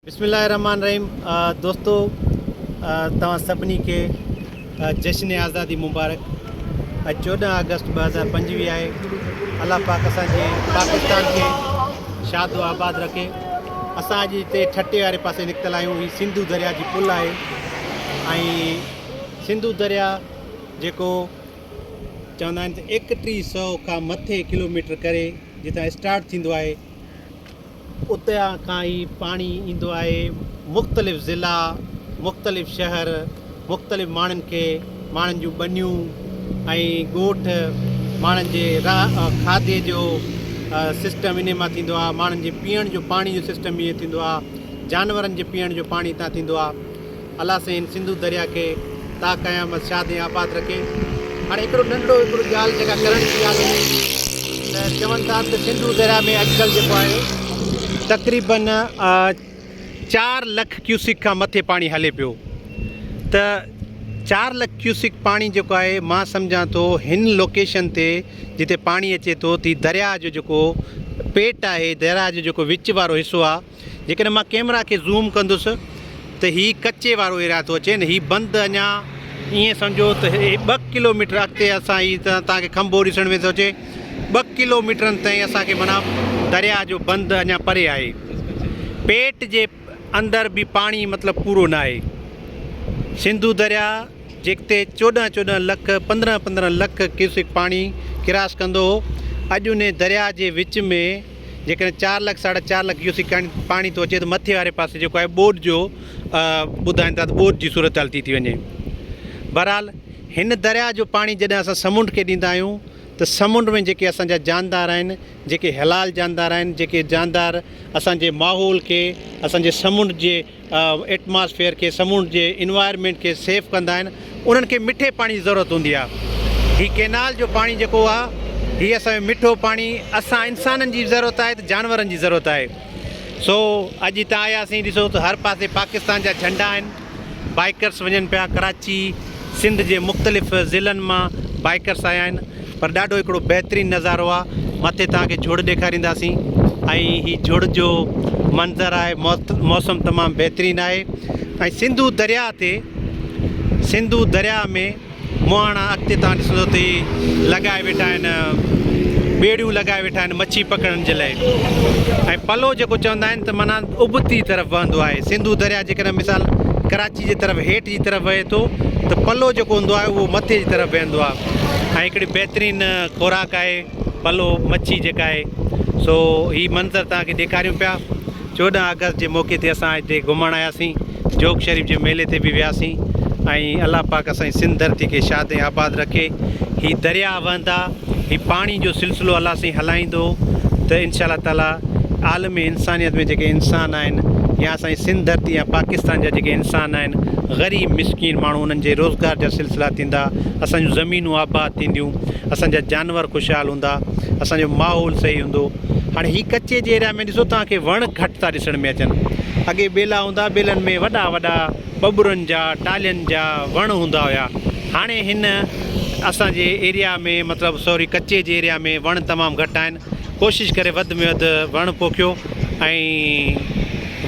بسم الله الرحمٰن الرحيم دوستو توهان سڀني کي جشن آزادي مبارڪ اڄ چوڏهن آگسٽ ٻه هزار پنجويهه آهي الله پاڪ اسان جي پاڪستان کي شاد و آباد رکي اسان اڄ هتي ٺٽي واري پاسي نڪتل آهيون هي سنڌو دريا جي پل آهي ۽ سنڌو دريا جيڪو چوندا آهن ته ايڪٽيهه سو کان مٿي ڪلوميٽر ڪري جتان اسٽارٽ ٿيندو آهي اتان کان ئي پاڻي ايندو آهي مختلف ضلعا مختلف شهر مختلف ماڻهن کي ماڻهن جون ٻنيون ۽ ڳوٺ ماڻهن جي کاڌي جو سسٽم انهي مان ٿيندو آهي ماڻهن جي پيئڻ جو پاڻي جو سسٽم ائين ٿيندو آهي جانورن جي پيئڻ جو پاڻي اتان ٿيندو آهي الله سائين سنڌو دريا کي تا قيامت شاد ۽ آباد رکي هاڻي هڪڙو ننڍڙو هڪڙو ڳالهه جيڪا ڪرڻ جي ڳالهه هئي ته چون ٿا ته سنڌو دريا ۾ اڄڪلهه جيڪو آهي تقريبن چار لک ڪيوسڪ کان مٿي پاڻي هلي پيو ته چار لک ڪيوسڪ پاڻي جيڪو آهي مان سمجهان ٿو هن لوڪيشن تي جتي پاڻي اچي ٿو تي دريا جو جيڪو پيٽ آهي دريا جو جيڪو وچ وارو حصو آهي جيڪڏهن مان ڪيمرا کي زوم ڪندس ته هي ڪچي وارو ايريا ٿو اچي ۽ هي بند اڃا ائين سمجهو ته هي ٻه ڪلو ميٽر اڳتي اسان هي توهان کي کنڀو ڏسڻ ۾ ٿو اچي ٻه ڪلو ميٽرن تائين اسان کي معنيٰ درياء جو بند اڃا پري آهي پيٽ جي اندر به پاڻي مطلب پورو نه آهي سنڌو درياء جيڪتي چوڏهن چوڏهن لک پندرهن پندرهن لک ڪيوسڪ پاڻي ڪراس ڪندو هو اڄ انهي درياء جي وچ ۾ جيڪڏهن چار لک ساڍا چار لک ڪيوسڪ کن پاڻي ٿو اچي ته مٿي واري پاسي جيڪو آهي ٻوڏ جو ٻڌائين ٿا ته ٻوڏ جي صورتحال ٿي ٿي وڃي. بهرحال هن درياهه جو پاڻي جڏهن اسان سمنڊ کي ڏيندا آهيون ته سمنڊ ۾ جيڪي اسان جا جاندار آهن جيڪي حلال جاندار آهن جيڪي جاندار اسان جي ماحول کي اسان جي سمنڊ جي ايٽماسفيئر کي سمونڊ جي انوائرمينٽ کي سيف ڪندا آهن انهن کي مٺي پاڻي جي ضرورت هوندي آهي هي ڪينال جو پاڻي جيڪو آهي هي اسان جو مٺو پاڻي اسان انسانن جي به ضرورت آهي ته جانورن جي ضرورت آهي سو اڄ هتان آياسين ڏسو ته هر پاسي پاڪستان جا جهنڊا آهن بائيڪرس وڃن پيا ڪراچي سنڌ جي مختلف ضلعن مان بائيڪرس آيا آهن پر ڏاڍو هڪڙو بهترين نظارو آ مٿي توهان کي جھڙ ڏيکارينداسين ۽ هي جھڙ جو منظر آهي موسم تمام بهترين آهي ۽ سنڌو درياء تي سنڌو درياء ۾ مهاڻا اڳتي توهان ڏسندو ته هي لڳائي ويٺا آهن ٻيڙيون لڳائي ويٺا آهن مڇي پڪڙڻ جي لاء ۽ پلو جيڪو چوندا آهن ته معنيٰ ابتي طرف وهندو آهي. سنڌو درياهه جيڪڏهن مثال ڪراچي جي طرف هيٺ جي طرف وهي ٿو ته پلو جيڪو هوندو آهي اهو مٿي جي طرف وهندو آهي ۽ هڪڙي بهترين خوراڪ آهي پلو مڇي جيڪا آهي سو هي منظر توهان کي ڏيکاريون پيا چوڏهن آگسٽ جي موقعي تي اسان هتي گهمڻ آياسين جوگ شريف جي ميلي تي به وياسين ۽ الله پاڪ اسان جي سنڌ ڌرتي کي شاد ۽ آباد رکي هي درياهه وهندا هي پاڻي جو سلسلو الله سائين هلائيندو ته انشاء الله تعالي عالم انسانيت ۾ جيڪي انسان آهن يا اسانجي سنڌ ڌرتي يا پاڪستان جا جيڪي انسان آهن غريب مسڪين ماڻهو انهن جي روزگار جا سلسلا ٿيندا اسان جون زمينون آباد ٿينديون اسان جا جانور خوشحال هوندا اسان جو ماحول صحيح هوندو هاڻي هي ڪچي جي ايريا ۾ ڏسو توهان کي وڻ گهٽ ٿا ڏسڻ ۾ اچن اڳي ٻيلا هوندا ٻيلن ۾ وڏا وڏا ٻٻرن جا، ٽالهين جا وڻ هوندا هيا. هاڻي هن اسان جي ايريا ۾ مطلب سوري ڪچي جي ايريا ۾ وڻ تمام گهٽ آهن. ڪوشش ڪري وڌ ۾ وڌ وڻ پوکيو ۽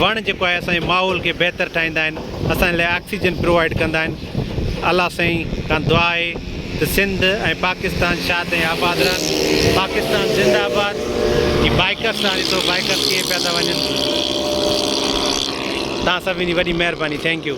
وڻ جيڪو آهي اسان جي ماحول کي بهتر ٺاهيندا آهن. اسان جي لاء آڪسيجن پرووائيڊ ڪندا آهن. الله سائين کان دعا آهي. ته سنڌ ۽ پاڪستان شاد ۽ آباد رهن پاڪستان زنده آباد جي بائيڪرس سان ڏسو بائيڪرس ڪيئن پيا ٿا وڃن توهان سڀني جي وڏي مهرباني ٿينڪ يو.